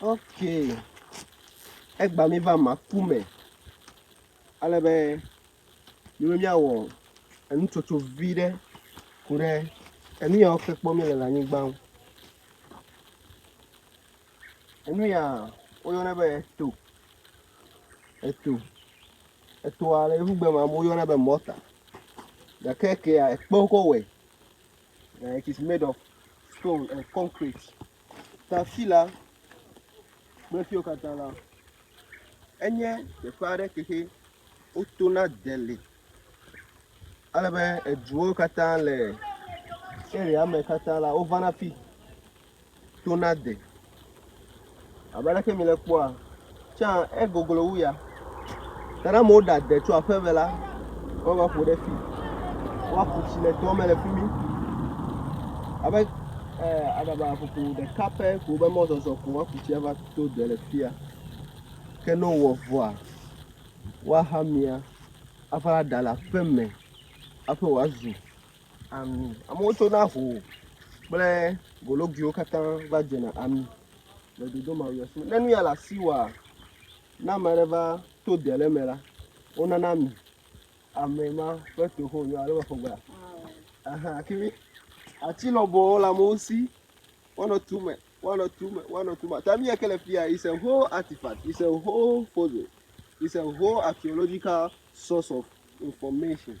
ok egba mi va ma ku me ale be mi be miawɔ enutsotso vi ɖe ku ɖe enu yawo ke kpɔm mi le le anyigba ŋu. Enu ya woyɔnɛ be eto. Eto. Etoa le Yevu gbe me amewo yɔnɛ be mɔta. Gake ekea ekpe wokɔ wɔe. Eh, it is made of stone and concrete. Ta afi la kple fiwo katã la, enye teƒe aɖe ke xe wotona deli. Ale be eduwo katã le area me katã la wovana fi. to nade. Abe aleke mile kpɔa, tsã egoglo wu ya. Ta ne amewo ɖa de tso aƒeme la, woava ƒo ɖe fi. Woaku tsi le toa me le fi mi. Abe eh, aɖaba ƒoƒo ɖeka pɛ ko be mɔzɔzɔ ko woaku tsi ava to de le fia. Ke ne wowɔ vɔa, woaha mia ava ɖa le aƒeme hafi wòazu. ami. Amewo tsona ho kple gologuiwo katã va dzena ami le dodo ma me. Ne nu ya le asiwòa, ne ame aɖe va to de ɖe eme la, wonana ami. Ame ma ƒe to ho nyo alo meƒo gbea? Aha, kiri. Ati lɔbɔwo le amewo si. Woanɔ tu me, woanɔ tu me, woanɔ tu me. Ami ya ke le fia is a whole artifact, is a whole fossil, is a whole archaeological source of information.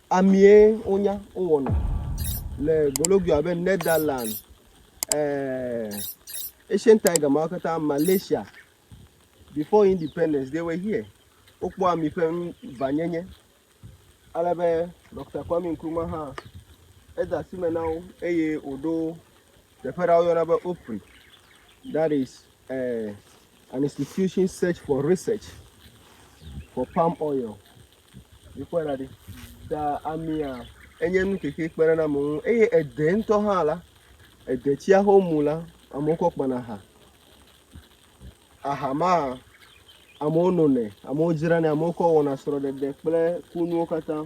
Amie wonya wowɔna le Gologua abe Netherlands, eh, Asian Tiger mawo katã, Malaysia, before independence, they were here. Wokpɔ ami ƒe vanyenye. Ale be Dr. Kwame Nkrumah hã eda asi me na wo eye wòɖo teƒe ɖa woyɔna be Opri. That is Uh, an institution search for research for palm oil. Mikpɔe ɖa ɖi. Da amia enye nu keke kpe ɖe ame ŋu eye ede ŋutɔ hã la, ede tsia ho mu la, amewo kɔ kpana aha. Aha ma amewo nonɛ, amewo dzranɛ, amewo kɔ wɔna srɔ̃ɖeɖe kple kunuwo katã.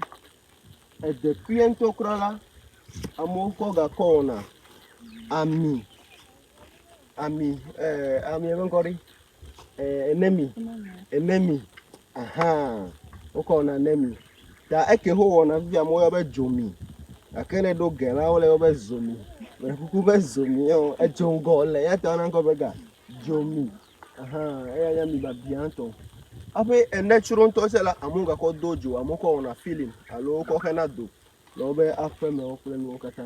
Ede kpuie ŋutɔ kura la, amewo kɔ gakɔ wɔna ami. ami eh, ami ƒe ŋkɔ ɖi eh, enemi enemi ahan wokɔ wɔna enemi ta eke ho wɔna fi amewo yɔ be dzomi gake ne ɖo ge la wole yɔ be zomi mele kuku be zomi yɔ edzo ŋgɔ le ya ta na ŋkɔ be ga dzomi ahan eya nye ami babia ŋutɔ aƒe ene tsro ŋutɔ se la amewo gakɔ do dzo amewo kɔ wɔna filim alo wokɔ xena do le wobe aƒemewo kple nuwo katã.